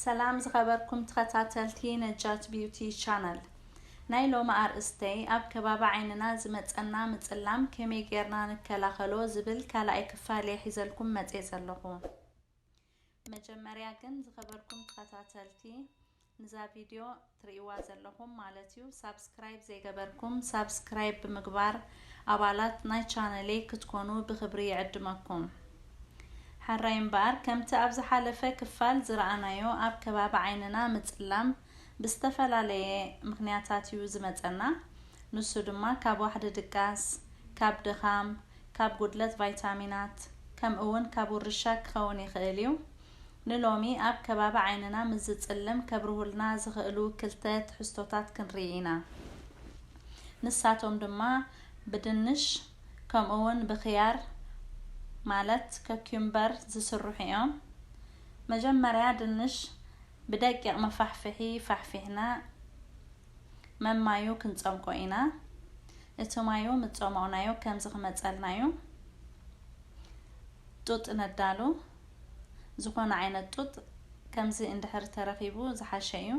ሰላም ዝኸበርኩም ተኸታተልቲ ነጃት ቢዩቲ ቻነል ናይ ሎሚ ኣርእስተይ ኣብ ከባቢ ዓይንና ዝመፀና ምፅላም ከመይ ጌርና ንከላኸሎ ዝብል ካልኣይ ክፋል እየ ሒዘልኩም መፅየ ዘለኹ መጀመርያ ግን ዝኸበርኩም ተኸታተልቲ ንዛ ቪድዮ ትሪእዋ ዘለኹም ማለት እዩ ሳብስክራይብ ዘይገበርኩም ሳብስክራይብ ብምግባር ኣባላት ናይ ቻነለይ ክትኮኑ ብኽብሪ ይዕድመኩም ሐራይ እምበኣር ከምቲ ኣብ ዝሓለፈ ክፋል ዝረኣናዮ ኣብ ከባቢ ዓይንና ምፅላም ብዝተፈላለየ ምኽንያታት እዩ ዝመፀና ንሱ ድማ ካብ ዋሕዲ ድቃስ ካብ ድኻም ካብ ጉድለት ቫይታሚናት ከምእውን ካብ ውርሻ ክኸውን ይኽእል እዩ ንሎሚ ኣብ ከባቢ ዓይንና ምስ ዝጽልም ከብርሁልና ዝኽእሉ ክልተ ትሕዝቶታት ክንርኢ ኢና። ንሳቶም ድማ ብድንሽ ከምኡ'ውን ብኽያር ማለት ከክዩምበር ዝስርሑ እዮም። መጀመርያ ድንሽ ብደቂቕ መፋሕፍሒ ፋሕፊሕና መም ማዩ ክንጸምቆ ኢና። እቲ ማዩ ምስ ጸሞቕናዮ ከምዚ ክመጸልና እዩ። ጡጥ ነዳሉ። ዝኾነ ዓይነት ጡጥ ከምዚ እንድሕር ተረኺቡ ዝሓሸ እዩ።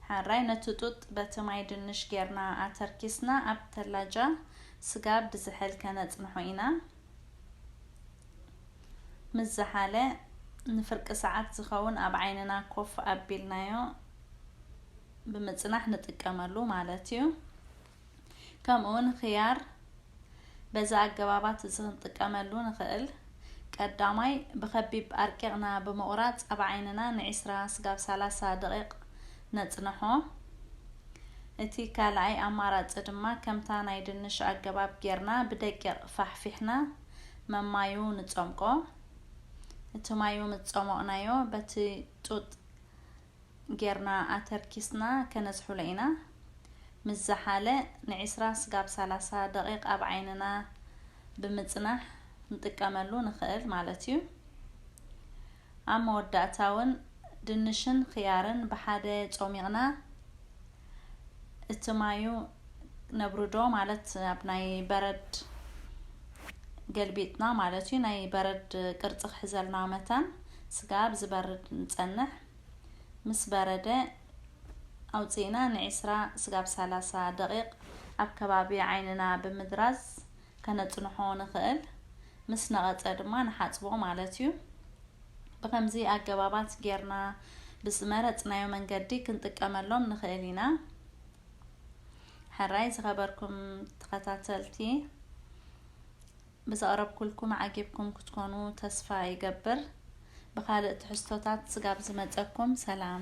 ሓራይ ነቲ ጡጥ በቲ ማይ ድንሽ ጌርና ኣተርኪስና ኣብ ተላጃ ስጋብ ብዝሕል ከነጽንሖ ኢና። ምስ ዝሓለ ንፍርቂ ሰዓት ዝኸውን ኣብ ዓይንና ኮፍ ኣቢልናዮ ብምጽናሕ ንጥቀመሉ ማለት እዩ። ከምኡውን ኽያር በዚ ኣገባባት እዚ ክንጥቀመሉ ንኽእል ቀዳማይ ብኸቢብ ኣርቂቕና ብምቑራፅ ኣብ ዓይንና ንዒስራ ስጋብ ሰላሳ ደቂቕ ነፅንሖ። እቲ ካልኣይ ኣማራፂ ድማ ከምታ ናይ ድንሽ ኣገባብ ጌርና ብደቂቕ ፋሕፊሕና መማዩ ንፀምቆ። እቲ ማዩ ምስ ፀሞቕናዮ በቲ ጡጥ ጌርና ኣተርኪስና ከነዝሑሎ ኢና ምስ ዝሓለ ንዒስራ ስጋብ ሰላሳ ደቂቅ ኣብ ዓይንና ብምጽናሕ ክንጥቀመሉ ንኽእል ማለት እዩ። ኣብ መወዳእታ ውን ድንሽን ኽያርን ብሓደ ጾሚቅና እትማዩ ነብርዶ ማለት ኣብ ናይ በረድ ገልቢጥና ማለት እዩ ናይ በረድ ቅርፂ ክሕዘልና መታን ስጋ ኣብ ዝበርድ ንፀንሕ ምስ በረደ ኣውፅእና ንዒስራ ስጋብ ሰላሳ ደቂቅ ኣብ ከባቢ ዓይንና ብምድራዝ ከነጽንሖ ንኽእል፣ ምስ ነቐጸ ድማ ንሓጽቦ ማለት እዩ። ብኸምዚ ኣገባባት ጌርና ብዝመረጽናዮ መንገዲ ክንጥቀመሎም ንኽእል ኢና። ሕራይ ዝኸበርኩም ተኸታተልቲ ብዘቕረብኩልኩም ዓጊብኩም ክትኮኑ ተስፋ ይገብር። ብኻልእ ትሕዝቶታት ስጋብ ዝመጸኩም ሰላም።